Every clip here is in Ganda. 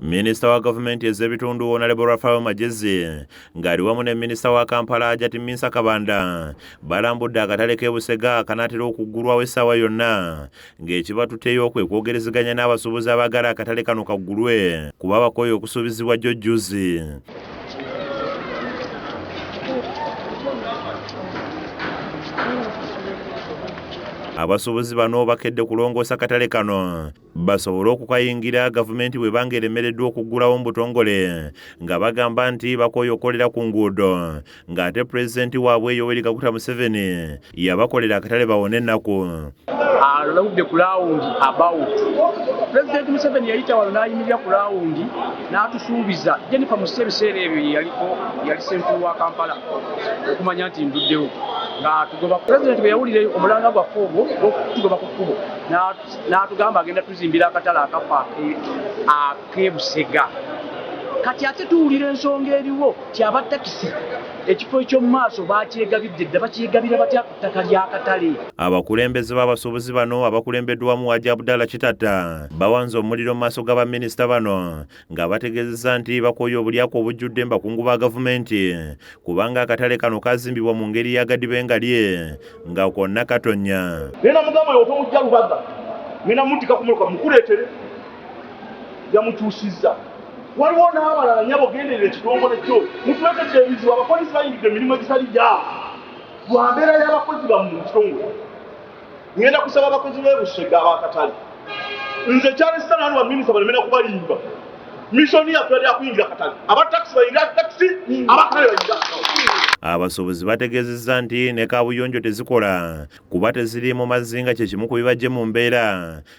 Minisita wa gavumenti ez'ebitundu Honorable Raphael Magezi ng'ali wamu ne minisita wa Kampala Hajati Minsa Kabanda balambudde akatale k'e Busega akanaatera okuggulwawo essaawa yonna ng'ekibatuteyo kwe kwogerezeganya n'abasuubuzi abaagala akatale kano kaggulwe kuba bakooye okusuubizibwa jjo jjuzi. abasuubuzi bano bakedde kulongoosa katale kano basobole okukayingira gavumenti bweba nga eremereddwa okuggulawo mu butongole nga bagamba nti bakooye okukolera ku nguudo ng'ate pulezidenti waabwe yoweri kaguta museveni yabakolera akatale bawone ennaku aludde ku laawundi about pulezidenti museveni yayita wano n'ayimirira ku laawundi n'atusuubiza jennifer musi ebiseera ebyo yeyaliko yali senkulu wa kampala okumanya nti nduddewo nga tugoba pulezidenti bwe yawulira omulanga gwaffe ogwo okutugoba ku kkubo n'atugamba agenda tuzimbira akatale akafa ak'ebusega kati ate tuwulira ensonga eriwo ti aba takisi ekifo eky'omu maaso bakyegabidde dda bakyegabira batya ku ttaka ly'akatale abakulembeze b'abasuubuzi bano abakulembeddwamu waja abdala kitatta bawanze omuliro mu maaso ga baminisita bano nga bategezeza nti bakooye obulyako obujjudde mbakungu ba gavumenti kubanga akatale kano kazimbibwa mu ngeri yagadibe nga lye nga kwonna katonya yamukyusizza waliwo n'abalala nyabo genderera ekitongole kyo mutulekedde ebizibu abapolisi bayingidde emirimu egitali gyabo lwa mbeera y'abakozi bamu mu kitongole ngenda kusaba abakozi b'e Busega ab'akatale nze kyalesita nanu baminisita balemera kubalimba mishoni yaffe yali yakuyingira katale aba takisi bayingira takisi abakatale bayingira abasuubuzi bategeezezza nti ne kaabuyonjo tezikola kuba teziri mu mazinga kye kimu ku bibajje mu mbeera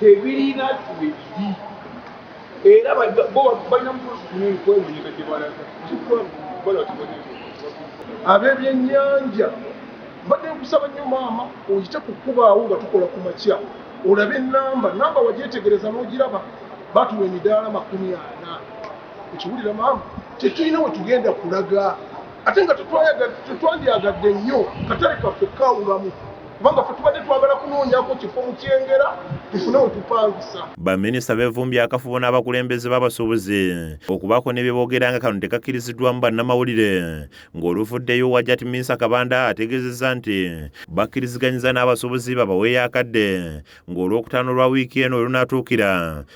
tebirina webiri era balina mupolisi munene kwenonye gajebalaga abebyenyanja mbadde nkusaba nnyo maama oyite kukubaawo nga tukola ku makya olaba enamba namba wagyetegereza n'ogiraba batuwa emidaala makumi ana ekiwulira maama tetulina wetugenda kulaga ate nga tetwandyagadde nnyo katale kaffe kawulamu kubanga fe tubadde twagala kunoonyako kifo mu kyengera tufune wetupangisa baminisita bevumbye akafubo n'abakulembeze b'abasuubuzi okubaako ne bye boogera nga kano tekakkiriziddwamu bannamawulire ng'oluvuddeyo wajat minsa kabanda ategeezezza nti bakkiriziganyiza n'abasuubuzi babaweeyo akadde ng'olwokutaano lwa wiiki eno olunaatuukira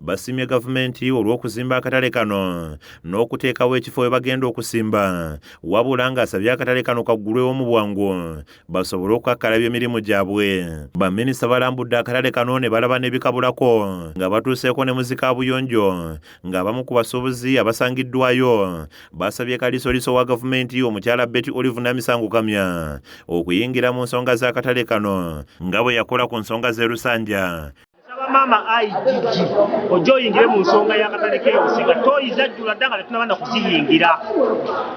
basiimye gavumenti olw'okuzimba akatale kano n'okuteekawo ekifo we bagenda okusimba wabula ng'asabye akatale kano kaggulwewo mu bwangu basobole okukakkalabya emirimu gyabwe baminisita balambudde akatale kano ne balaba n'ebikabulako nga batuuseeko ne muzika buyonjo ng'abamu ku basuubuzi abasangiddwayo basabye kalisoliso wa gavumenti omukyala beti olive namisango kamya okuyingira mu nsonga z'akatale kano nga bwe yakola ku nsonga z'erusanja Nsaba maama IGG ojja oyingire mu nsonga y'akatale k'ebusiga tooyi zajjula dda nga tetunaba na kuziyingira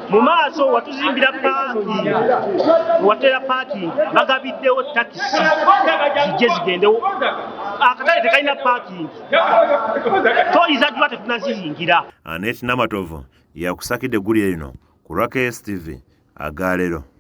mu maaso watuzimbira paaki watera paaki bagabiddewo takisi zijje zigendewo akatale tekalina paakingi tooyi zajjula tetunaziyingira anet namatovu yakusakidde eggulire lino ku raks tv agaalero